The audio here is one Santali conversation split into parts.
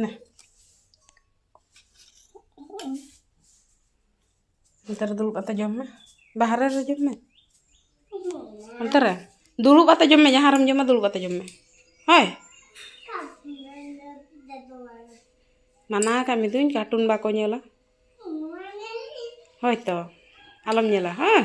ᱱᱟ ᱚᱱᱛᱮ ᱨᱮ ᱫᱩᱲᱩᱵ ᱠᱟᱛᱮ ᱡᱚᱢ ᱢᱮ ᱵᱟᱦᱨᱮ ᱨᱮ ᱡᱚᱢ ᱢᱮ ᱚᱱᱛᱮ ᱨᱮ ᱫᱩᱲᱩᱵ ᱠᱟᱛᱮ ᱡᱚᱢ ᱢᱮ ᱡᱟᱦᱟᱸ ᱨᱮᱢ ᱡᱚᱢᱟ ᱫᱩᱲᱩᱵ ᱠᱟᱛᱮ ᱡᱚᱢ ᱢᱮ ᱦᱳᱭ ᱢᱟᱱᱟ ᱠᱟᱜ ᱢᱤᱫᱟᱹᱧ ᱠᱟᱨᱴᱩᱱ ᱵᱟᱠᱚ ᱧᱮᱞᱟ ᱦᱳᱭ ᱛᱚ ᱟᱞᱚᱢ ᱧᱮᱞᱟ ᱦᱮᱸ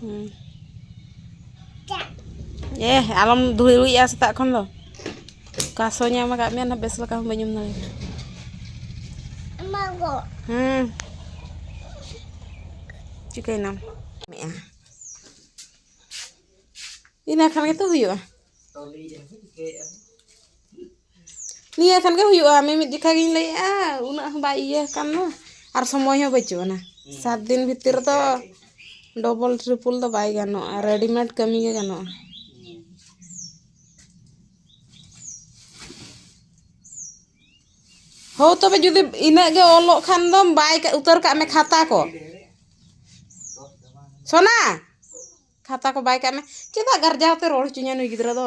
ᱦᱩᱸ ᱮ ᱟᱞᱚᱢ ᱫᱷᱩᱲᱤᱭᱟ ᱥᱮᱛᱟᱜ ᱠᱷᱚᱱ ᱫᱚ ᱚᱠᱟ ᱥᱚ ᱧᱟᱢ ᱟᱠᱟᱫ ᱢᱮᱭᱟ ᱱᱟ ᱵᱮᱥ ᱞᱮᱠᱟ ᱦᱚᱸ ᱵᱟᱹᱧ ᱩᱢ ᱫᱟᱲᱮᱭᱟᱜᱼᱟ ᱦᱩᱸ ᱪᱤᱠᱟᱹᱭᱱᱟᱢ ᱤᱱᱟᱹ ᱠᱷᱟᱱ ᱜᱮᱛᱚ ᱦᱩᱭᱩᱜᱼᱟ ᱱᱤᱭᱟᱹ ᱠᱷᱟᱱ ᱜᱮ ᱦᱩᱭᱩᱜᱼᱟ ᱢᱤᱢᱤᱫ ᱡᱚᱠᱷᱟ ᱜᱤᱧ ᱞᱟᱹᱭᱮᱜᱼᱟ ᱩᱱᱟᱹᱜ ᱦᱚᱸ ᱵᱟᱭ ᱤᱭᱟᱹ ᱟᱠᱟᱱ ᱫᱚ ᱟᱨ ᱥᱚᱢᱚᱭ ᱦᱚᱸ ᱵᱟᱹᱪᱩᱜ ᱟᱱᱟ ᱥᱟᱛ ᱫᱤᱱ ᱵᱷᱤᱛᱤᱨ ᱨᱮᱫᱚ ᱰᱚᱵᱚᱞ ᱴᱨᱤᱯᱚᱞ ᱫᱚ ᱵᱟᱭ ᱜᱟᱱᱚᱜᱼᱟ ᱨᱮᱰᱤᱢᱮᱰ ᱠᱟᱹᱢᱤ ᱜᱮ ᱜᱟᱱᱚᱜᱼᱟ ᱦᱳ ᱛᱚᱵᱮ ᱡᱩᱫᱤ ᱤᱱᱟᱹᱜ ᱜᱮ ᱚᱞᱚᱜ ᱠᱷᱟᱱ ᱫᱚᱢ ᱵᱟᱭ ᱩᱛᱟᱹᱨ ᱠᱟᱜ ᱢᱮ ᱠᱷᱟᱛᱟ ᱠᱚ ᱥᱳᱱᱟ ᱠᱷᱟᱛᱟ ᱠᱚ ᱵᱟᱭ ᱠᱟᱜ ᱢᱮ ᱪᱮᱫᱟᱜ ᱜᱟᱨᱡᱟᱣ ᱛᱮ ᱨᱚᱲ ᱦᱚᱪᱚᱧᱟᱭ ᱱᱩᱭ ᱜᱤᱫᱽᱨᱟᱹ ᱫᱚ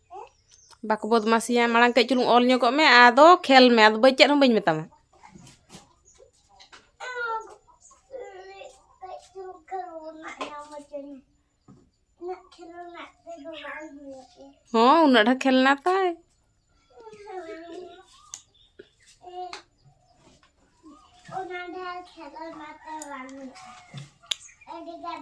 ᱵᱟᱠᱚ ᱵᱚᱫᱢᱟᱥᱤᱭᱟ ᱢᱟᱲᱟᱝ ᱠᱟᱹᱡ ᱪᱩᱞᱩᱝ ᱚᱞ ᱧᱚᱜᱚᱜ ᱢᱮ ᱟᱫᱚ ᱠᱷᱮᱞ ᱢᱮ ᱟᱫᱚ ᱵᱟᱹᱧ ᱪᱮᱫ ᱦᱚᱸ ᱵᱟᱹᱧ ᱢᱮᱛᱟᱢᱟ ᱦᱚᱸ ᱩᱱᱟᱹᱜ ᱰᱷᱮᱨ ᱠᱷᱮᱞ ᱱᱟ ᱛᱟᱭ ᱚᱱᱟ ᱰᱷᱮᱨ ᱠᱷᱮᱞ ᱱᱟ ᱛᱟᱭ ᱵᱟᱝ ᱟᱹᱰᱤ ᱜᱟᱱ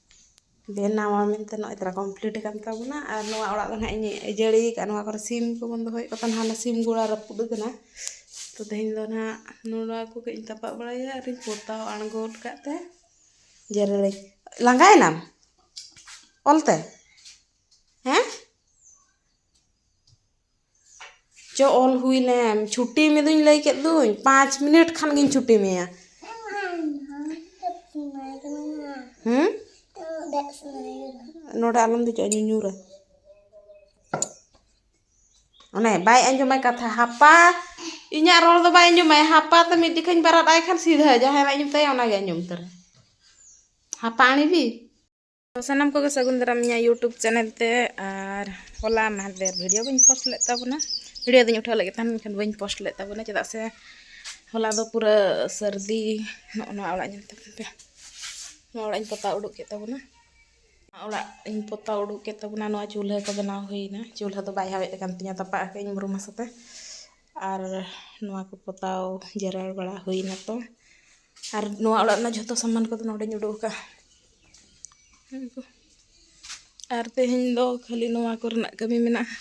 ᱵᱮᱱᱟᱣᱟ ᱢᱮᱱᱛᱮ ᱱᱚᱜᱼᱚᱭ ᱛᱚᱨᱟ ᱠᱚᱢᱯᱞᱤᱴ ᱟᱠᱟᱱ ᱛᱟᱵᱚᱱᱟ ᱟᱨ ᱱᱚᱣᱟ ᱚᱲᱟᱜ ᱫᱚ ᱦᱟᱸᱜ ᱤᱧ ᱟᱹᱡᱟᱹᱲᱤ ᱟᱠᱟᱫᱼᱟ ᱱᱚᱣᱟ ᱠᱚᱨᱮᱜ ᱥᱤᱢ ᱠᱚᱵᱚᱱ ᱫᱚᱦᱚᱭᱮᱫ ᱠᱚ ᱛᱟᱦᱮᱱᱟ ᱚᱱᱟ ᱥᱤᱢ ᱜᱚᱲᱟ ᱨᱟᱹᱯᱩᱫ ᱟᱠᱟᱱᱟ ᱛᱳ ᱛᱮᱦᱮᱧ ᱫᱚ ᱦᱟᱸᱜ ᱱᱚᱣᱟ ᱠᱚ ᱠᱟᱹᱡ ᱤᱧ ᱛᱟᱯᱟᱜ ᱵᱟᱲᱟᱭᱟ ᱟᱨᱤᱧ ᱯᱚᱛᱟᱣ ᱟᱬᱜᱚ ᱜᱚᱫ ᱠᱟᱜ ᱛᱮ ᱡᱮᱨᱮᱲᱟᱹᱧ ᱞᱟᱸᱜᱟᱭᱮᱱᱟᱢ ᱚᱞᱛᱮ ᱦᱮᱸ ᱪᱚ ᱚᱞ ᱦᱩᱭ ᱞᱮᱱ ᱪᱷᱩᱴᱤ ᱢᱮᱫᱩᱧ ᱞᱟᱹᱭ ᱠᱮᱫ ᱫᱩᱧ ᱯᱟᱸᱪ ᱢᱤᱱᱤᱴ ᱠᱷᱟᱱ ᱜᱤᱧ ᱪᱷᱩᱴᱤ ᱢᱮᱭᱟ ᱦᱮᱸ ᱱᱚᱰᱮ ᱟᱞᱚᱢ ᱫᱮᱡᱚᱜᱼᱟ ᱧᱩᱧᱩᱨᱟ ᱚᱱᱮ ᱵᱟᱭ ᱟᱸᱡᱚᱢᱟᱭ ᱠᱟᱛᱷᱟ ᱦᱟᱯᱟ ᱤᱧᱟᱹᱜ ᱨᱚᱲ ᱫᱚ ᱵᱟᱭ ᱟᱸᱡᱚᱢᱟᱭ ᱦᱟᱯᱟ ᱛᱮ ᱢᱤᱫ ᱡᱚᱠᱷᱟᱧ ᱵᱟᱨᱟᱫ ᱟᱭ ᱠᱷᱟᱱ ᱥᱤᱫᱷᱟᱹ ᱡᱟᱦᱟᱸᱭ ᱵᱟᱭ ᱟᱸᱡᱚᱢ ᱛᱟᱭᱟ ᱚᱱᱟᱜᱮ ᱟᱸᱡᱚᱢ ᱩᱛᱟᱹᱨᱟ ᱦᱟᱯᱟ ᱟᱬᱮᱵᱤ ᱥᱟᱱᱟᱢ ᱠᱚᱜᱮ ᱥᱟᱹᱜᱩᱱ ᱫᱟᱨᱟᱢ ᱤᱧᱟᱹᱜ ᱤᱭᱩᱴᱩᱵᱽ ᱪᱮᱱᱮᱞ ᱛᱮ ᱟᱨ ᱦᱚᱞᱟ ᱢᱟᱦᱫᱮᱨ ᱵᱷᱤᱰᱤᱭᱳ ᱵᱟᱹᱧ ᱯᱳᱥᱴ ᱞᱮᱫ ᱛᱟᱵᱚᱱᱟ ᱵᱷᱤᱰᱤᱭᱳ ᱫᱚᱧ ᱩᱴᱷᱟᱹᱣ ᱞᱮᱫ ᱛᱟᱦᱮᱱ ᱢᱮᱱᱠᱷᱟᱱ ᱵᱟᱹᱧ ᱯᱳᱥᱴ ᱞᱮᱫ ᱛᱟᱵᱚᱱᱟ ᱪᱮᱫᱟᱜ ᱥᱮ ᱦᱚᱞᱟ ᱫᱚ ᱯᱩᱨᱟᱹ ᱥᱟᱹᱨᱫᱤ ᱱᱚᱜᱼᱚ ᱱᱚᱣᱟ ᱚᱲᱟᱜ ᱧᱮᱞ ᱛᱟᱵᱚᱱ ᱯᱮ ᱱᱚᱣᱟ ᱚᱲᱟᱜ ᱤᱧ ᱯᱚᱛᱟᱣ ᱩᱰᱩᱠ ᱠᱮᱫ ᱛᱟᱵᱚᱱᱟ ᱚᱲᱟᱜ ᱤᱧ ᱯᱚᱛᱟᱣ ᱩᱰᱩᱠ ᱠᱮᱫ ᱛᱟᱵᱚᱱᱟ ᱱᱚᱣᱟ ᱪᱩᱞᱦᱟᱹ ᱠᱚ ᱵᱮᱱᱟᱣ ᱦᱩᱭᱱᱟ ᱪᱩᱞᱦᱟᱹ ᱫᱚ ᱵᱟᱭ ᱦᱟᱣᱮᱫ ᱠᱟᱱ ᱛᱤᱧᱟᱹ ᱛᱟᱯᱟᱜ ᱟᱠᱟᱫ ᱟᱹᱧ ᱵᱩᱨᱩᱢ ᱦᱟᱥᱟᱛᱮ ᱟᱨ ᱱᱚᱣᱟ ᱠᱚ ᱯᱚᱛᱟᱣ ᱡᱮᱨᱮᱲ ᱵᱟᱲᱟ ᱦᱩᱭ ᱱᱟᱛᱚ ᱟᱨ ᱱᱚᱣᱟ ᱚᱲᱟᱜ ᱨᱮᱱᱟᱜ ᱡᱚᱛᱚ ᱥᱟᱢᱟᱱ ᱠᱚᱫᱚ ᱱᱚᱰᱮᱧ ᱩᱰᱩᱠ ᱟᱠᱟᱫᱼᱟ ᱟᱨ ᱛᱮᱦᱮᱧ ᱫᱚ ᱠᱷᱟᱹᱞᱤ ᱱᱚᱣᱟ ᱠᱚᱨᱮᱱᱟᱜ ᱠᱟᱹᱢᱤ ᱢᱮᱱᱟᱜᱼᱟ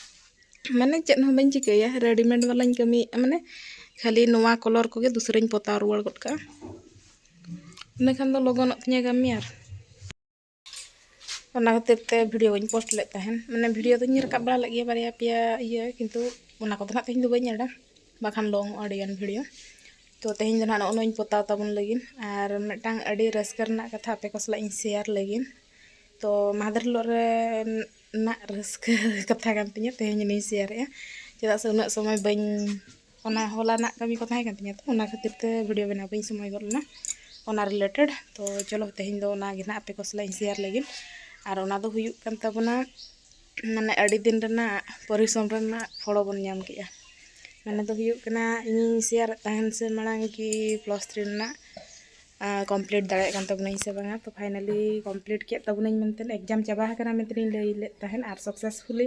ᱢᱟᱱᱮ ᱪᱮᱫ ᱦᱚᱸ ᱵᱟᱹᱧ ᱪᱤᱠᱟᱹᱭᱟ ᱨᱮᱰᱤᱢᱮᱰ ᱵᱟᱞᱟᱧ ᱠᱟᱹᱢᱤᱭᱮᱫᱼᱟ ᱢᱟᱱᱮ ᱠᱷᱟᱹᱞᱤ ᱱᱚᱣᱟ ᱠᱟᱞᱟᱨ ᱠᱚᱜᱮ ᱫᱚᱥᱨᱟᱧ ᱯᱚᱛᱟᱣ ᱨᱩᱣᱟᱹᱲ ᱜᱚᱫ ᱠᱟᱜᱼᱟ ᱤᱱᱟᱹ ᱠᱷᱟᱱ ᱫᱚ ᱞᱚᱜᱚᱱᱚᱜ ᱛᱤᱧᱟᱹ ᱠᱟᱹᱢᱤ ᱟᱨ ᱚᱱᱟ ᱠᱷᱟᱹᱛᱤᱨ ᱛᱮ ᱵᱷᱤᱰᱤᱭᱳ ᱵᱟᱹᱧ ᱯᱳᱥᱴ ᱞᱮᱫ ᱛᱟᱦᱮᱱ ᱢᱟᱱᱮ ᱵᱷᱤᱰᱤᱭᱳ ᱫᱚᱧ ᱨᱟᱠᱟᱵ ᱵᱟᱲᱟ ᱞᱮᱫ ᱜᱮᱭᱟ ᱵᱟᱨᱭᱟ ᱯᱮᱭᱟ ᱤᱭᱟᱹ ᱠᱤᱱᱛᱩ ᱚᱱᱟ ᱠᱚᱫᱚ ᱱᱟᱜ ᱛᱮᱦᱮᱧ ᱫᱚ ᱵᱟᱹᱧ ᱮᱰᱟ ᱵᱟᱠᱷᱟᱱ ᱞᱚᱝᱚᱜᱼᱟ ᱟᱹᱰᱤᱜᱟᱱ ᱵᱷᱤᱰᱤᱭᱳ ᱛᱚ ᱛᱮᱦᱮᱧ ᱫᱚ ᱱᱟᱜ ᱱᱚᱜᱼᱚ ᱱᱚᱣᱟᱧ ᱯᱚᱛᱟᱣ ᱛᱟᱵᱚᱱ ᱞᱟᱹᱜᱤᱫ ᱟᱨ ᱢᱤᱫᱴᱟᱝ ᱟᱹᱰᱤ ᱨᱟᱹᱥᱠᱟᱹ ᱨᱮᱱᱟᱜ ᱠᱟᱛᱷᱟ ᱟᱯᱮ ᱠᱚ ᱥᱟᱞᱟᱜ ᱤᱧ ᱥᱮᱭᱟᱨ ᱞᱟᱹᱜᱤᱫ ᱛᱚ ᱢᱟᱦᱫᱮᱨ ᱦᱤᱞᱳᱜ ᱨᱮ ᱱᱟᱜ ᱨᱟᱹᱥᱠᱟᱹ ᱠᱟᱛᱷᱟ ᱠᱟᱱ ᱛᱤᱧᱟᱹ ᱛᱮᱦᱮᱧ ᱡᱟᱹᱱᱤᱧ ᱥᱮᱭᱟᱨᱮᱜᱼᱟ ᱪᱮᱫᱟᱜ ᱥᱮ ᱩᱱᱟᱹᱜ ᱥᱚᱢᱚᱭ ᱵᱟᱹᱧ ᱚᱱᱟ ᱦᱚᱞᱟ ᱨᱮᱱᱟᱜ ᱠᱟᱹᱢᱤ ᱠᱚ ᱛᱟᱦᱮᱸ ᱠᱟᱱ ᱛᱤᱧᱟᱹ ᱛᱚ ᱚᱱᱟ ᱠᱷᱟᱹᱛᱤᱨ ᱛᱮ ᱵᱷᱤᱰᱭᱳ ᱵᱮᱱᱟᱣ ᱵᱟᱹᱧ ᱥᱚᱢᱚᱭ ᱜᱚᱫ ᱞᱮᱱᱟ ᱚᱱᱟ ᱨᱤᱞᱮᱴᱮᱰ ᱛᱚ ᱪᱚᱞᱚ ᱛᱮᱦᱮᱧ ᱫᱚ ᱚᱱᱟᱜᱮ ᱱᱟᱦᱟᱜ ᱟᱯᱮ ᱠᱚ ᱥᱟᱞᱟᱜ ᱤᱧ ᱥᱮᱭᱟᱨ ᱞᱟᱹᱜᱤᱫ ᱟᱨ ᱚᱱᱟ ᱫᱚ ᱦᱩᱭᱩᱜ ᱠᱟᱱ ᱛᱟᱵᱚᱱᱟ ᱢᱟᱱᱮ ᱟᱹᱰᱤ ᱫᱤᱱ ᱨᱮᱱᱟᱜ ᱯᱚᱨᱤᱥᱨᱚᱢ ᱨᱮᱱᱟᱜ ᱯᱷᱚᱞ ᱵᱚᱱ ᱧᱟᱢ ᱠᱮᱜᱼᱟ ᱢᱟᱱᱮ ᱫᱚ ᱦᱩᱭᱩᱜ ᱠᱟᱱᱟ ᱤᱧᱤᱧ ᱥᱮᱭᱟᱨᱮᱫ ᱛᱟᱦᱮᱱ ᱥᱮ ᱢᱟᱲᱟᱝ ᱠᱤ ᱯᱞᱟᱥ ᱛᱷᱨᱤ ᱨᱮᱱᱟᱜ ᱠᱚᱢᱯᱞᱤᱴ ᱫᱟᱲᱮᱭᱟᱜ ᱠᱟᱱ ᱛᱟᱵᱚᱱᱟᱹᱧ ᱥᱮ ᱵᱟᱝᱟ ᱛᱚ ᱯᱷᱟᱭᱱᱟᱞᱤ ᱠᱚᱢᱯᱞᱤᱴ ᱠᱮᱜ ᱛᱟᱵᱚᱱᱟᱹᱧ ᱢᱮᱱᱛᱮ ᱮᱠᱡᱟᱢ ᱪᱟᱵᱟ ᱟᱠᱟᱱᱟ ᱢᱮᱱᱛᱮ ᱤᱧ ᱞᱟᱹᱭ ᱞᱮᱜ ᱛᱟᱦᱮᱱ ᱟᱨ ᱥᱟᱠᱥᱮᱥᱯᱷᱩᱞᱤ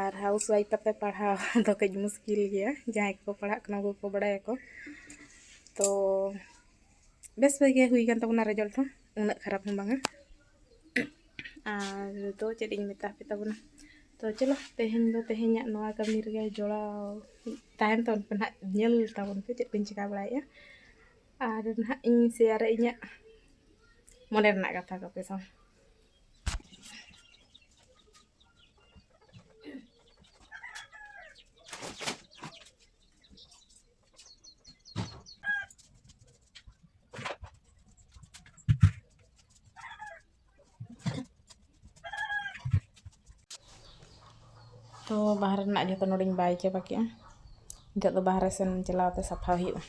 ᱟᱨ ᱦᱟᱣᱩᱥ ᱚᱣᱟᱭᱤᱯ ᱠᱟᱛᱮ ᱯᱟᱲᱦᱟᱣ ᱫᱚ ᱠᱟᱹᱡ ᱢᱩᱥᱠᱤᱞ ᱜᱮᱭᱟ ᱡᱟᱦᱟᱸᱭ ᱠᱚᱠᱚ ᱯᱟᱲᱦᱟᱜ ᱠᱟᱱᱟ ᱩᱱᱠᱩ ᱠᱚ ᱵᱟᱲᱟᱭᱟᱠᱚ ᱛᱚ ᱵᱮᱥ ᱜᱮ ᱦᱩᱭ ᱠᱟᱱ ᱛᱟᱵᱚᱱᱟ ᱨᱮᱡᱟᱞᱴ ᱦᱚᱸ ᱩᱱᱟᱹᱜ ᱠᱷᱟᱨᱟᱯ ᱦᱚᱸ ᱵᱟᱝᱟ ᱟᱨ ᱫᱚ ᱪᱮᱫ ᱤᱧ ᱢᱮᱛᱟ ᱯᱮ ᱛᱟᱵᱚᱱᱟ ᱛᱚ ᱪᱚᱞᱚ ᱛᱮᱦᱮᱧ ᱫᱚ ᱛᱮᱦᱮᱧᱟᱜ ᱱᱚᱣᱟ ᱠᱟᱹᱢᱤ ᱨᱮᱜᱮ ᱡᱚᱲᱟᱣ ᱛᱟᱦᱮᱱ ᱛᱟᱵᱚᱱ ᱯᱮ ᱱᱟᱦᱟᱜ ᱧᱮᱞ ᱛᱟᱵᱚᱱ ᱯᱮ ᱪᱮᱫ ᱠᱚᱧ ᱪᱤᱠᱟᱹ ᱵᱟᱲᱟᱭᱮᱫᱼᱟ ᱟᱨ ᱱᱟᱦᱟᱜ ᱤᱧ ᱥᱮᱭᱟᱨᱟ ᱤᱧᱟᱹᱜ ᱢᱚᱱᱮ ᱨᱮᱱᱟᱜ ᱠᱟᱛᱷᱟ ᱠᱚᱯᱮ ᱥᱟᱶ ᱛᱚ ᱵᱟᱦᱨᱮ ᱨᱮᱱᱟᱜ ᱡᱚᱛᱚ ᱱᱚᱰᱮᱧ ᱵᱟᱭ ᱪᱟᱵᱟ ᱠᱮᱜᱼᱟ ᱱᱤᱛᱚᱜ ᱫᱚ ᱵᱟᱦᱨᱮ ᱥᱮᱱ ᱪᱟᱞᱟᱣ ᱛᱮ ᱥᱟᱯᱷᱟ ᱦᱩᱭᱩᱜᱼᱟ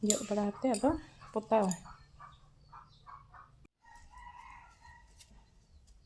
ᱡᱚᱜ ᱵᱟᱲᱟ ᱠᱟᱛᱮ ᱟᱫᱚ ᱯᱚᱛᱟᱣ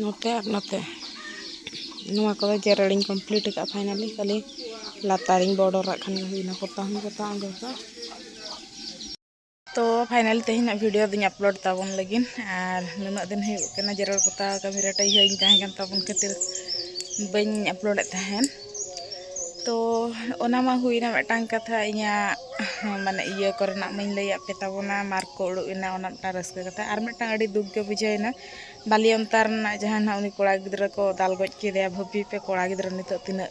ᱱᱚᱛᱮ ᱟᱨ ᱱᱚᱛᱮ ᱱᱚᱣᱟ ᱠᱚᱫᱚ ᱡᱮᱨᱮᱲᱤᱧ ᱠᱚᱢᱯᱞᱤᱴ ᱟᱠᱟᱫᱼᱟ ᱯᱷᱟᱭᱱᱟᱞᱤ ᱠᱷᱟᱹᱞᱤ ᱞᱟᱛᱟᱨᱤᱧ ᱵᱚᱰᱚᱨᱟᱜ ᱠᱷᱟᱱ ᱦᱩᱭᱱᱟ ᱠᱚᱛᱟ ᱦᱚᱸ ᱠᱚᱛᱟ ᱚᱸᱰᱮ ᱫᱚ ᱛᱚ ᱯᱷᱟᱭᱱᱟᱞ ᱛᱮᱦᱮᱧᱟᱜ ᱵᱷᱤᱰᱤᱭᱳ ᱫᱚᱧ ᱟᱯᱞᱳᱰ ᱛᱟᱵᱚᱱ ᱞᱟᱹᱜᱤᱫ ᱟᱨ ᱱᱩᱱᱟᱹᱜ ᱫᱤᱱ ᱦᱩᱭᱩᱜ ᱠᱟᱱᱟ ᱡᱮᱨᱮᱲ ᱯᱚᱛᱟᱣ ᱠᱟᱹᱢᱤ ᱨᱮ ᱴᱟᱹᱭᱦᱟᱹ ᱤᱧ ᱛᱟᱦᱮᱸ ᱠᱟᱱ ᱛᱟᱵᱚᱱ ᱠᱷᱟᱹᱛᱤᱨ ᱵᱟᱹᱧ ᱟᱯᱞᱳᱰᱮᱫ ᱛᱟᱦᱮᱸᱫ ᱛᱚ ᱚᱱᱟ ᱢᱟ ᱦᱩᱭᱱᱟ ᱢᱤᱫᱴᱟᱝ ᱠᱟᱛᱷᱟ ᱤᱧᱟᱹᱜ ᱢᱟᱱᱮ ᱤᱭᱟᱹ ᱠᱚᱨᱮᱱᱟᱜ ᱢᱟᱧ ᱞᱟᱹᱭᱟᱫ ᱯᱮ ᱛᱟᱵᱚᱱᱟ ᱢᱟᱨᱠ ᱠᱚ ᱩᱰᱩᱠ ᱮᱱᱟ ᱚᱱᱟ ᱢᱤᱫᱴᱟᱝ ᱨᱟᱹᱥᱠᱟᱹ ᱠᱟᱛᱷᱟ ᱟᱨ ᱢᱤᱫᱴᱟᱝ ᱟᱹᱰᱤ ᱫᱩᱠ ᱜᱮ ᱵᱩᱡᱷᱟᱹᱣᱮᱱᱟ ᱵᱟᱞᱤ ᱚᱱᱛᱟ ᱨᱮᱱᱟᱜ ᱡᱟᱦᱟᱸ ᱱᱟᱜ ᱩᱱᱤ ᱠᱚᱲᱟ ᱜᱤᱫᱽᱨᱟᱹ ᱠᱚ ᱫᱟᱞ ᱜᱚᱡ ᱠᱮᱫᱮᱭᱟ ᱵᱷᱟᱹᱵᱤ ᱯᱮ ᱠᱚᱲᱟ ᱜᱤᱫᱽᱨᱟᱹ ᱱᱤᱛᱳᱜ ᱛᱤᱱᱟᱹᱜ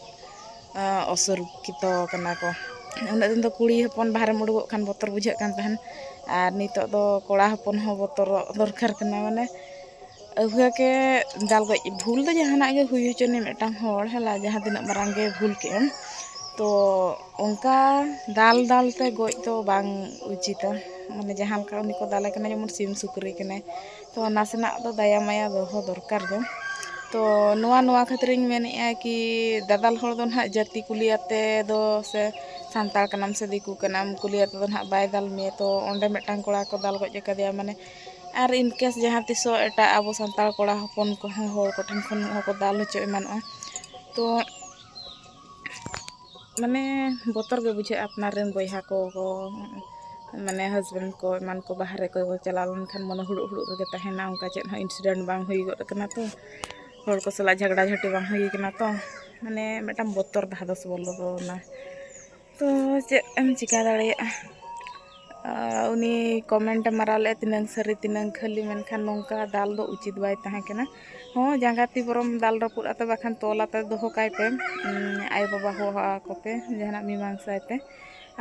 ᱚᱥᱩᱨᱚᱠᱠᱷᱤᱛᱚ ᱠᱟᱱᱟ ᱠᱚ ᱩᱱᱟᱹᱜ ᱫᱤᱱ ᱫᱚ ᱠᱩᱲᱤ ᱦᱚᱯᱚᱱ ᱵᱟᱦᱨᱮᱢ ᱩᱰᱩᱠᱚᱜ ᱠᱷᱟᱱ ᱵᱚᱛᱚᱨ ᱵᱩᱡᱷᱟᱹᱜ ᱠᱟᱱ ᱛᱟᱦᱮᱱ ᱟᱨ ᱱᱤᱛᱳᱜ ᱫᱚ ᱠᱚᱲᱟ ᱦᱚᱯᱚᱱ ᱦᱚᱸ ᱵᱚᱛᱚᱨᱚᱜ ᱫᱚᱨᱠᱟᱨ ᱠᱟᱱᱟ ᱢᱟᱱᱮ ᱟᱹᱜᱩᱭᱟ ᱠᱮ ᱫᱟᱞ ᱜᱚᱡ ᱵᱷᱩᱞ ᱫᱚ ᱡᱟᱦᱟᱱᱟᱜ ᱜᱮ ᱦᱩᱭ ᱦᱚᱪᱚᱱᱤᱡ ᱢᱤᱫᱴᱟᱝ ᱦᱚᱲ ᱦᱮᱞᱟ ᱡᱟᱦᱟᱸ ᱛᱤᱱᱟᱹᱜ ᱢᱟᱨᱟᱝ ᱜᱮ ᱵᱷᱩᱞ ᱠᱮᱫ ᱮᱢ ᱛᱚ ᱚᱱᱠᱟ ᱫᱟᱞ ᱫᱟᱞ ᱛᱮ ᱜᱚᱡ ᱫᱚ ᱵᱟᱝ ᱩᱪᱤᱛᱟ ᱢᱟᱱᱮ ᱡᱟᱦᱟᱸ ᱞᱮᱠᱟ ᱩᱱᱤ ᱠᱚ ᱫᱟᱞᱮ ᱠᱟᱱᱟ ᱡᱮᱢᱚᱱ ᱥᱤᱢ ᱥᱩᱠᱨᱤ ᱠᱟᱱᱟᱭ ᱛᱚ ᱱᱟᱥᱮᱱᱟᱜ ᱫᱚ ᱫᱟᱭᱟ ᱢᱟᱭᱟ ᱫᱚᱦᱚ ᱫᱚᱨᱠᱟᱨ ᱜᱮ ᱛᱚ ᱱᱚᱣᱟ ᱱᱚᱣᱟ ᱠᱷᱟᱹᱛᱤᱨ ᱤᱧ ᱢᱮᱱᱮᱫᱼᱟ ᱠᱤ ᱫᱟᱫᱟᱞ ᱦᱚᱲ ᱫᱚ ᱱᱟᱦᱟᱜ ᱡᱟᱹᱛᱤ ᱠᱩᱞᱤᱭᱟᱛᱮ ᱫᱚ ᱥᱮ ᱥᱟᱱᱛᱟᱲ ᱠᱟᱱᱟᱢ ᱥᱮ ᱫᱤᱠᱩ ᱠᱟᱱᱟᱢ ᱠᱩᱞᱤᱭᱟᱛᱮ ᱫᱚ ᱱᱟᱦᱟᱜ ᱵᱟᱭ ᱫᱟᱞ ᱢᱮᱭᱟ ᱛᱚ ᱚᱸᱰᱮ ᱢᱤᱫᱴᱟᱝ ᱠᱚᱲᱟ ᱠᱚ ᱫᱟᱞ ᱜᱚᱡ ᱟᱠᱟᱫᱮᱭᱟ ᱢᱟᱱᱮ ᱟᱨ ᱤᱱᱠᱮᱥ ᱡᱟᱦᱟᱸ ᱛᱤᱥᱚᱜ ᱮᱴᱟᱜ ᱟᱵᱚ ᱥᱟᱱᱛᱟᱲ ᱠᱚᱲᱟ ᱦᱚᱯᱚᱱ ᱠᱚᱦᱚᱸ ᱦᱚᱲ ᱠᱚᱴᱷᱮᱱ ᱠᱷᱚᱱ ᱦᱚᱸ ᱠᱚ ᱫᱟᱞ ᱦᱚᱪᱚ ᱮᱢᱟᱱᱚᱜᱼᱟ ᱛᱚ ᱢᱟᱱᱮ ᱵᱚᱛᱚᱨ ᱜᱮ ᱵᱩᱡᱷᱟᱹᱜᱼᱟ ᱟᱯᱱᱟᱨ ᱨᱮᱱ ᱵᱚᱭᱦᱟ ᱠᱚ ᱢᱟᱱᱮ ᱦᱟᱥᱵᱮᱱᱰ ᱠᱚ ᱮᱢᱟᱱ ᱠᱚ ᱵᱟᱦᱨᱮ ᱠᱚ ᱪᱟᱞᱟᱣ ᱞᱮᱱᱠᱷᱟᱱ ᱢᱚᱱᱮ ᱦᱩᱲᱩᱜ ᱦᱩᱲᱩᱜ ᱨᱮᱜᱮ ᱛᱟᱦᱮᱱᱟ ᱚᱱᱠᱟ ᱪᱮᱫ ᱦᱚᱸ ᱤᱱᱥᱤᱰᱮᱱᱴ ᱵᱟᱝ ᱦᱩᱭ ᱜᱚᱫ ᱠᱟᱱᱟ ᱛᱚ ᱦᱚᱲ ᱠᱚ ᱥᱟᱞᱟᱜ ᱡᱷᱟᱜᱽᱲᱟ ᱡᱷᱟᱹᱴᱤ ᱵᱟᱝ ᱦᱩᱭ ᱠᱟᱱᱟ ᱛᱚ ᱢᱟᱱᱮ ᱢᱤᱫᱴᱟᱝ ᱵᱚᱛᱚᱨ ᱫᱷᱟᱫᱚᱥ ᱵᱚᱞᱚᱱᱟ ᱛᱚ ᱪᱮᱫ ᱮᱢ ᱪᱤᱠᱟᱹ ᱫᱟᱲᱮᱭᱟᱜᱼᱟ ᱩᱱᱤ ᱠᱚᱢᱮᱱᱴᱮ ᱢᱟᱨᱟᱣ ᱞᱮᱫᱼᱟ ᱛᱤᱱᱟᱹᱝ ᱥᱟᱹᱨᱤ ᱛᱤᱱᱟᱹᱝ ᱠᱷᱟᱹᱞᱤ ᱢᱮᱱᱠᱷᱟᱱ ᱱᱚᱝᱠᱟ ᱫᱟᱞ ᱫᱚ ᱩᱪᱤᱛ ᱵᱟᱭ ᱛᱟᱦᱮᱸ ᱠᱟᱱᱟ ᱦᱚᱸ ᱡᱟᱸᱜᱟ ᱛᱤ ᱵᱚᱨᱚᱢ ᱫᱟᱞ ᱨᱟᱹᱯᱩᱫ ᱟᱛᱮ ᱵᱟᱠᱷᱟᱱ ᱛᱚᱞ ᱟᱛᱮ ᱫᱚᱦᱚ ᱠᱟᱭ ᱯᱮ ᱟᱭᱳ ᱵᱟᱵᱟ ᱦᱚᱦᱚ ᱟᱠᱚ ᱯᱮ ᱡᱟᱦᱟᱱᱟᱜ ᱢᱤᱢᱟᱝᱥᱟᱭ ᱯᱮ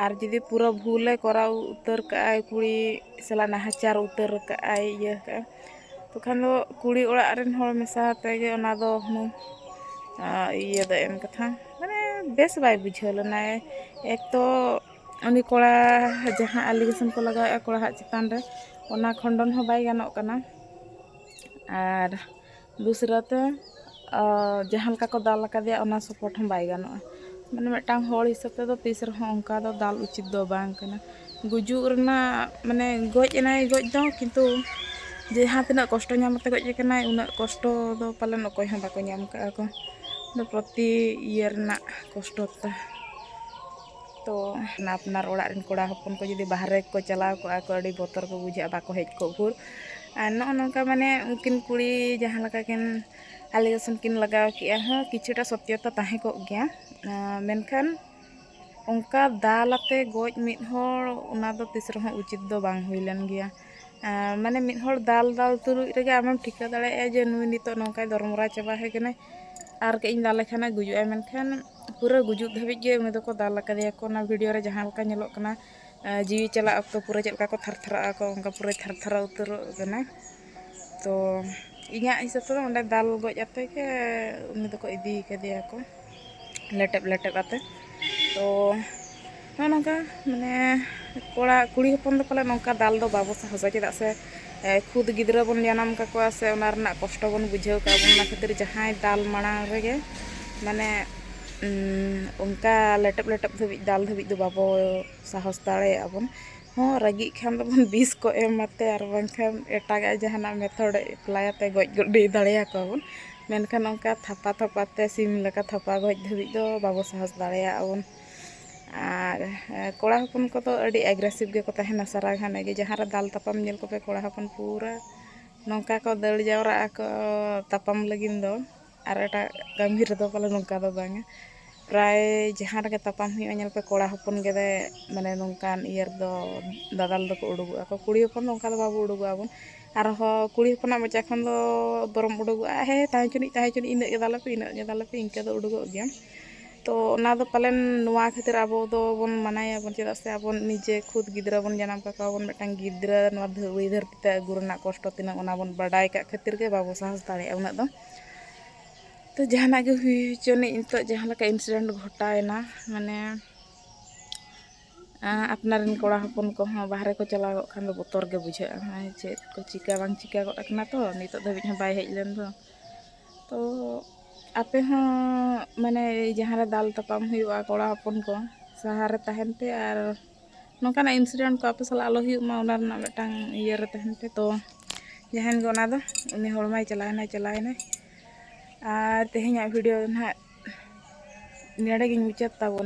ᱟᱨ ᱡᱩᱫᱤ ᱯᱩᱨᱟᱹ ᱵᱷᱩᱞᱮ ᱠᱚᱨᱟᱣ ᱩᱛᱟᱹᱨ ᱠᱟᱜᱼᱟᱭ ᱠᱩᱲᱤ ᱥᱟᱞᱟᱜ ᱱᱟᱦᱟᱪᱟᱨ ᱩᱛᱟᱹᱨ ᱠᱟᱜᱼᱟᱭ ᱤᱭᱟᱹ ᱠᱟᱜᱼᱟᱭ ᱛᱚᱠᱷᱚᱱ ᱫᱚ ᱠᱩᱲᱤ ᱚᱲᱟᱜ ᱨᱮᱱ ᱦᱚᱲ ᱢᱮᱥᱟ ᱟᱛᱮᱫ ᱜᱮ ᱚᱱᱟ ᱫᱚ ᱦᱩᱱᱟᱹᱝ ᱤᱭᱟᱹ ᱫᱚ ᱮᱢ ᱠᱟᱛᱷᱟ ᱢᱟᱱᱮ ᱵᱮᱥ ᱵᱟᱭ ᱵᱩᱡᱷᱟᱹᱣ ᱞᱮᱱᱟ ᱮᱠ ᱛᱚ ᱩᱱᱤ ᱠᱚᱲᱟ ᱡᱟᱦᱟᱸ ᱮᱞᱤᱜᱮᱥᱚᱱ ᱠᱚ ᱞᱟᱜᱟᱣᱮᱫᱼᱟ ᱠᱚᱲᱟᱣᱟᱜ ᱪᱮᱛᱟᱱ ᱨᱮ ᱚᱱᱟ ᱠᱷᱚᱸᱰᱚᱱ ᱦᱚᱸ ᱵᱟᱭ ᱜᱟᱱᱚᱜ ᱠᱟᱱᱟ ᱟᱨ ᱫᱩᱥᱨᱟᱹ ᱛᱮ ᱡᱟᱦᱟᱸ ᱞᱮᱠᱟ ᱠᱚ ᱫᱟᱞ ᱟᱠᱟᱫᱮᱭᱟ ᱚᱱᱟ ᱥᱚᱯᱳᱨᱴ ᱦᱚᱸ ᱵᱟᱭ ᱜᱟᱱᱚᱜᱼᱟ ᱢᱟᱱᱮ ᱢᱤᱫᱴᱟᱝ ᱦᱚᱲ ᱦᱤᱥᱟᱹᱵ ᱛᱮᱫᱚ ᱛᱤᱥ ᱨᱮᱦᱚᱸ ᱚᱱᱠᱟ ᱫᱚ ᱫᱟᱞ ᱩᱪᱤᱛ ᱫᱚ ᱵᱟᱝ ᱠᱟᱱᱟ ᱜᱩᱡᱩᱜ ᱨᱮᱱᱟᱜ ᱢᱟᱱᱮ ᱜᱚᱡ ᱮᱱᱟᱭ ᱜᱚᱡ ᱫᱚ ᱠᱤᱱᱛᱩ ᱡᱟᱦᱟᱸ ᱛᱤᱱᱟᱹᱜ ᱠᱚᱥᱴᱚ ᱧᱟᱢ ᱠᱟᱛᱮᱫ ᱜᱚᱡ ᱟᱠᱟᱱᱟᱭ ᱩᱱᱟᱹᱜ ᱠᱚᱥᱴᱚ ᱫᱚ ᱯᱟᱞᱮᱱ ᱚᱠᱚᱭ ᱦᱚᱸ ᱵᱟᱠᱚ ᱧᱟᱢ ᱠᱟᱜᱼᱟ ᱠᱚ ᱯᱨᱚᱛᱤ ᱤᱭᱟᱹ ᱨᱮᱱᱟᱜ ᱠᱚᱥᱴᱚ ᱛᱮ ᱛᱚ ᱟᱯᱱᱟᱨ ᱚᱲᱟᱜ ᱨᱮᱱ ᱠᱚᱲᱟ ᱦᱚᱯᱚᱱ ᱠᱚ ᱡᱩᱫᱤ ᱵᱟᱦᱨᱮ ᱠᱚ ᱪᱟᱞᱟᱣ ᱠᱚᱜᱼᱟ ᱠᱚ ᱟᱹᱰᱤ ᱵᱚᱛᱚᱨ ᱠᱚ ᱵᱩᱡᱷᱟᱹᱜᱼᱟ ᱵᱟᱠᱚ ᱦᱮᱡ ᱠᱚᱜ ᱵᱷᱳᱨ ᱟᱨ ᱱᱚᱜᱼᱚ ᱱᱚᱝᱠᱟ ᱢᱟᱱᱮ ᱩᱱᱠᱤᱱ ᱠᱩᱲᱤ ᱡᱟᱦᱟᱸ ᱞᱮᱠᱟ ᱠᱤᱱ ᱟᱞᱮᱜᱮᱥᱚᱱ ᱠᱤᱱ ᱞᱟᱜᱟᱣ ᱠᱮᱜᱼᱟ ᱦᱚᱸ ᱠᱤᱪᱷᱩᱴᱟ ᱥᱚᱛᱭᱚᱛᱟ ᱛᱟᱦᱮᱸ ᱠᱚᱜ ᱜᱮᱭᱟ ᱢᱮᱱᱠᱷᱟᱱ ᱚᱱᱠᱟ ᱫᱟᱞ ᱟᱛᱮ ᱜᱚᱡ ᱢᱤᱫ ᱦᱚᱲ ᱚᱱᱟ ᱫᱚ ᱛᱤᱥ ᱨᱮᱦᱚᱸ ᱩᱪᱤᱛ ᱫᱚ ᱵᱟᱝ ᱦᱩᱭ ᱞᱮᱱ ᱜᱮᱭᱟ ᱢᱟᱱᱮ ᱢᱤᱫ ᱦᱚᱲ ᱫᱟᱞ ᱫᱟᱞ ᱛᱩᱞᱩᱡ ᱨᱮᱜᱮ ᱟᱢᱮᱢ ᱴᱷᱤᱠᱟᱹ ᱫᱟᱲᱮᱭᱟᱜᱼᱟ ᱡᱮ ᱱᱩᱭ ᱱᱤᱛᱚᱜ ᱱᱚᱝᱠᱟᱭ ᱫᱚᱨᱢᱚᱨᱟ ᱪᱟᱵᱟ ᱦᱮᱡ ᱠᱟᱱᱟᱭ ᱟᱨ ᱠᱟᱹᱡ ᱤᱧ ᱫᱟᱞᱮ ᱠᱷᱟᱱᱮ ᱜᱩᱡᱩᱜᱼᱟᱭ ᱢᱮᱱᱠᱷᱟᱱ ᱯᱩᱨᱟᱹ ᱜᱩᱡᱩᱜ ᱫᱷᱟᱹᱵᱤᱡ ᱜᱮ ᱩᱱᱤ ᱫᱚᱠᱚ ᱫᱟᱞ ᱟᱠᱟᱫᱮᱭᱟ ᱠᱚ ᱚᱱᱟ ᱵᱷᱤᱰᱤᱭᱳ ᱨᱮ ᱡᱟᱦᱟᱸ ᱞᱮᱠᱟ ᱧᱮᱞᱚᱜ ᱠᱟᱱᱟ ᱡᱤᱣᱤ ᱪᱟᱞᱟᱜ ᱚᱠᱛᱚ ᱯᱩᱨᱟᱹ ᱪᱮᱫ ᱞᱮᱠᱟ ᱠᱚ ᱛᱷᱟᱨ ᱛᱷᱟᱨᱟᱜ ᱟᱠᱚ ᱚᱱᱠᱟ ᱯᱩᱨᱟᱹ ᱛᱷᱟᱨ ᱛᱷᱟᱨᱟᱣ ᱩᱛᱟᱹᱨᱚᱜ ᱠᱟᱱᱟ ᱛᱚ ᱤᱧᱟᱹᱜ ᱦᱤᱥᱟᱹᱵ ᱛᱮᱫᱚ ᱚᱸᱰᱮ ᱫᱟᱞ ᱜᱚᱡ ᱟᱛᱮ ᱜᱮ ᱩᱱᱤ ᱫᱚᱠᱚ ᱤᱫᱤ ᱠᱟᱫᱮᱭᱟ ᱠᱚ ᱞᱮᱴᱮᱵ ᱞᱮᱴᱮᱵ ᱟᱛᱮ ᱛᱚ ᱱᱚᱜᱼᱚ ᱱᱚᱝᱠᱟ ᱢᱟᱱᱮ ᱠᱚᱲᱟ ᱠᱩᱲᱤ ᱦᱚᱯᱚᱱ ᱫᱚ ᱯᱟᱞᱮ ᱱᱚᱝᱠᱟ ᱫᱟᱞ ᱫᱚ ᱵᱟᱵᱚ ᱥᱟᱦᱚᱥᱟ ᱪᱮᱫᱟᱜ ᱥᱮ ᱠᱷᱩᱫ ᱜᱤᱫᱽᱨᱟᱹ ᱵᱚᱱ ᱡᱟᱱᱟᱢ ᱠᱟᱠᱚᱣᱟ ᱥᱮ ᱚᱱᱟ ᱨᱮᱱᱟᱜ ᱠᱚᱥᱴᱚ ᱵᱚᱱ ᱵᱩᱡᱷᱟᱹᱣ ᱠᱟᱜᱼᱟ ᱵᱚᱱ ᱚᱱᱟ ᱠᱷᱟᱹᱛᱤᱨ ᱡᱟᱦᱟᱸᱭ ᱫᱟᱞ ᱢᱟᱲᱟᱝ ᱨᱮᱜᱮ ᱢᱟᱱᱮ ᱚᱱᱠᱟ ᱞᱮᱴᱮᱵ ᱞᱮᱴᱮᱵ ᱫᱷᱟᱹᱵᱤᱡ ᱫᱟᱞ ᱫᱷᱟᱹᱵᱤᱡ ᱫᱚ ᱵᱟᱵᱚ ᱥᱟᱦᱚᱥ ᱫᱟᱲᱮᱭᱟᱜᱼᱟ ᱵᱚᱱ ᱦᱚᱸ ᱨᱟᱹᱜᱤᱜ ᱠᱷᱟᱱ ᱫᱚᱵᱚᱱ ᱵᱤᱥ ᱠᱚ ᱮᱢᱟᱛᱮ ᱟᱨ ᱵᱟᱝᱠᱷᱟᱱ ᱮᱴᱟᱜᱟᱜ ᱡᱟᱦᱟᱱᱟᱜ ᱢᱮᱛᱷᱚᱰ ᱮᱯᱞᱟᱭᱟᱛᱮ ᱜᱚᱡ ᱜᱤᱰᱤ ᱫᱟᱲᱮᱭᱟ ᱠᱚᱣᱟ ᱵᱚᱱ ᱢᱮᱱᱠᱷᱟᱱ ᱚᱱᱠᱟ ᱛᱷᱟᱯᱟ ᱛᱷᱟᱯᱟᱛᱮ ᱥᱤᱢ ᱞᱮᱠᱟ ᱛᱷᱟᱯᱟ ᱜᱚᱡ ᱫᱷᱟᱹᱵᱤᱡ ᱫᱚ ᱵᱟᱵᱚ ᱥᱟᱦᱚᱥ ᱫᱟᱲᱮᱭᱟᱜᱼᱟ ᱵᱚᱱ ᱟᱨ ᱠᱚᱲᱟ ᱦᱚᱯᱚᱱ ᱠᱚᱫᱚ ᱟᱹᱰᱤ ᱮᱜᱽᱨᱮᱥᱤᱵᱽ ᱜᱮᱠᱚ ᱛᱟᱦᱮᱱᱟ ᱥᱟᱨᱟ ᱜᱷᱟᱱᱮ ᱜᱮ ᱡᱟᱦᱟᱸ ᱨᱮ ᱫᱟᱞ ᱛᱟᱯᱟᱢ ᱧᱮᱞ ᱠᱚᱯᱮ ᱠᱚᱲᱟ ᱦᱚᱯᱚᱱ ᱯᱩᱨᱟᱹ ᱱᱚᱝᱠᱟ ᱠᱚ ᱫᱟᱹᱲ ᱡᱟᱣᱨᱟᱜ ᱟᱠᱚ ᱛᱟᱯᱟᱢ ᱞᱟᱹᱜᱤᱫ ᱫᱚ ᱟᱨ ᱮᱴᱟᱜ ᱠᱟᱹᱢᱤ ᱨᱮᱫᱚ ᱯᱟᱞᱮ ᱱᱚᱝᱠᱟ ᱫᱚ ᱵᱟᱝᱟ ᱯᱨᱟᱭ ᱡᱟᱦᱟᱸ ᱨᱮᱜᱮ ᱛᱟᱯᱟᱢ ᱦᱩᱭᱩᱜᱼᱟ ᱧᱮᱞ ᱯᱮ ᱠᱚᱲᱟ ᱦᱚᱯᱚᱱ ᱜᱮ ᱢᱟᱱᱮ ᱱᱚᱝᱠᱟᱱ ᱤᱭᱟᱹ ᱨᱮᱫᱚ ᱫᱟᱫᱟᱞ ᱫᱚᱠᱚ ᱩᱰᱩᱠᱚᱜᱼᱟ ᱠᱚ ᱠᱩᱲᱤ ᱦᱚᱯᱚᱱ ᱫᱚ ᱚᱱᱠᱟ ᱫᱚ ᱵᱟᱵᱚ ᱩᱰᱩᱠᱚᱜ ᱟᱵᱚᱱ ᱟᱨ ᱦᱚᱸ ᱠᱩᱲᱤ ᱦᱚᱯᱚᱱᱟᱜ ᱢᱚᱪᱟ ᱠᱷᱚᱱ ᱫᱚ ᱵᱚᱨᱚᱢ ᱩᱰᱩᱠᱚᱜᱼᱟ ᱦᱮᱸ ᱛᱟᱦᱮᱸ ᱦᱚᱪᱚᱱᱤᱡ ᱛᱟᱦᱮᱸ ᱦᱚᱪᱚᱱᱤᱡ ᱤᱱᱟᱹᱜ ᱜᱮ ᱫᱟᱞᱮᱯᱮ ᱤᱱᱟᱹᱜ ᱜᱮ ᱫᱟᱞᱮᱯᱮ ᱤᱱᱠᱟᱹ ᱫᱚ ᱩᱰᱩᱠᱚᱜ ᱜᱮᱭᱟ ᱛᱚ ᱚᱱᱟ ᱫᱚ ᱯᱟᱞᱮᱱ ᱱᱚᱣᱟ ᱠᱷᱟᱹᱛᱤᱨ ᱟᱵᱚ ᱫᱚᱵᱚᱱ ᱢᱟᱱᱟᱭᱟᱵᱚᱱ ᱪᱮᱫᱟᱜ ᱥᱮ ᱟᱵᱚ ᱱᱤᱡᱮ ᱠᱷᱩᱫ ᱜᱤᱫᱽᱨᱟᱹ ᱵᱚᱱ ᱡᱟᱱᱟᱢ ᱠᱟᱠᱚᱣᱟ ᱵᱚᱱ ᱢᱤᱫᱴᱟᱝ ᱜᱤᱫᱽᱨᱟᱹ ᱱᱚᱣᱟ ᱫᱷᱩᱲᱤ ᱫᱷᱟᱹᱨᱛᱤ ᱛᱮ ᱟᱹᱜᱩ ᱨᱮᱱᱟᱜ ᱠᱚᱥᱴᱚ ᱛᱤᱱᱟᱹᱜ ᱚᱱᱟ ᱵᱚᱱ ᱵᱟᱰᱟᱭ ᱠᱟᱜ ᱠᱷᱟᱹᱛᱤᱨ ᱜᱮ ᱵᱟᱵᱚ ᱥᱟᱦᱚᱥ ᱫᱟᱲᱮᱭᱟᱜᱼᱟ ᱩᱱᱟᱹᱜ ᱫᱚ ᱛᱚ ᱡᱟᱦᱟᱱᱟᱜ ᱜᱮ ᱦᱩᱭ ᱦᱚᱪᱚᱱᱤᱡ ᱱᱤᱛᱚᱜ ᱡᱟᱦᱟᱸ ᱞᱮᱠᱟ ᱤᱱᱥᱤᱰᱮᱱᱴ ᱜᱷᱚᱴᱟᱣᱮᱱᱟ ᱢᱟᱱᱮ ᱟᱯᱱᱟᱨ ᱨᱮᱱ ᱠᱚᱲᱟ ᱦᱚᱯᱚᱱ ᱠᱚᱦᱚᱸ ᱵᱟᱦᱨᱮ ᱠᱚ ᱪᱟᱞᱟᱣ ᱠᱚᱜ ᱠᱷᱟᱱ ᱫᱚ ᱵᱚᱛᱚᱨ ᱜᱮ ᱵᱩᱡᱷᱟᱹᱜᱼᱟ ᱪᱮᱫ ᱠᱚ ᱪᱤᱠᱟᱹ ᱵᱟᱝ ᱪᱤᱠᱟᱹ ᱜᱚᱫ ᱟᱠᱟᱱᱟ ᱛᱚ ᱱᱤᱛᱚᱜ ᱫᱷᱟᱹᱵᱤᱡ ᱦᱚᱸ ᱵᱟᱭ ᱦᱮᱡ ᱞᱮᱱ ᱫᱚ ᱛᱚ ᱟᱯᱮ ᱦᱚᱸ ᱢᱟᱱᱮ ᱡᱟᱦᱟᱸ ᱨᱮ ᱫᱟᱞ ᱛᱟᱯᱟᱢ ᱦᱩᱭᱩᱜᱼᱟ ᱠᱚᱲᱟ ᱦᱚᱯᱚᱱ ᱠᱚ ᱥᱟᱦᱟ ᱨᱮ ᱛᱟᱦᱮᱱ ᱯᱮ ᱟᱨ ᱱᱚᱝᱠᱟᱱᱟᱜ ᱤᱱᱥᱤᱰᱮᱱᱴ ᱠᱚ ᱟᱯᱮ ᱥᱟᱞᱟᱜ ᱟᱞᱚ ᱦᱩᱭᱩᱜ ᱢᱟ ᱚᱱᱟ ᱨᱮᱱᱟᱜ ᱢᱤᱫᱴᱟᱝ ᱤᱭᱟᱹ ᱨᱮ ᱛᱟᱦᱮᱱ ᱯᱮ ᱛᱚ ᱡᱟᱦᱟᱸᱭ ᱜᱮ ᱚᱱᱟ ᱫᱚ ᱩᱱᱤ ᱦᱚᱲ ᱢᱟᱭ ᱪᱟᱞᱟᱣᱮᱱᱟᱭ ᱪᱟᱞᱟᱣᱮᱱᱟᱭ ᱟᱨ ᱛᱮᱦᱮᱧᱟᱜ ᱵᱷᱤᱰᱤᱭᱳ ᱫᱚ ᱱᱟᱦᱟᱜ ᱱᱚᱰᱮ ᱜᱤᱧ ᱢᱩᱪᱟᱹᱫ ᱛᱟᱵᱚᱱᱟ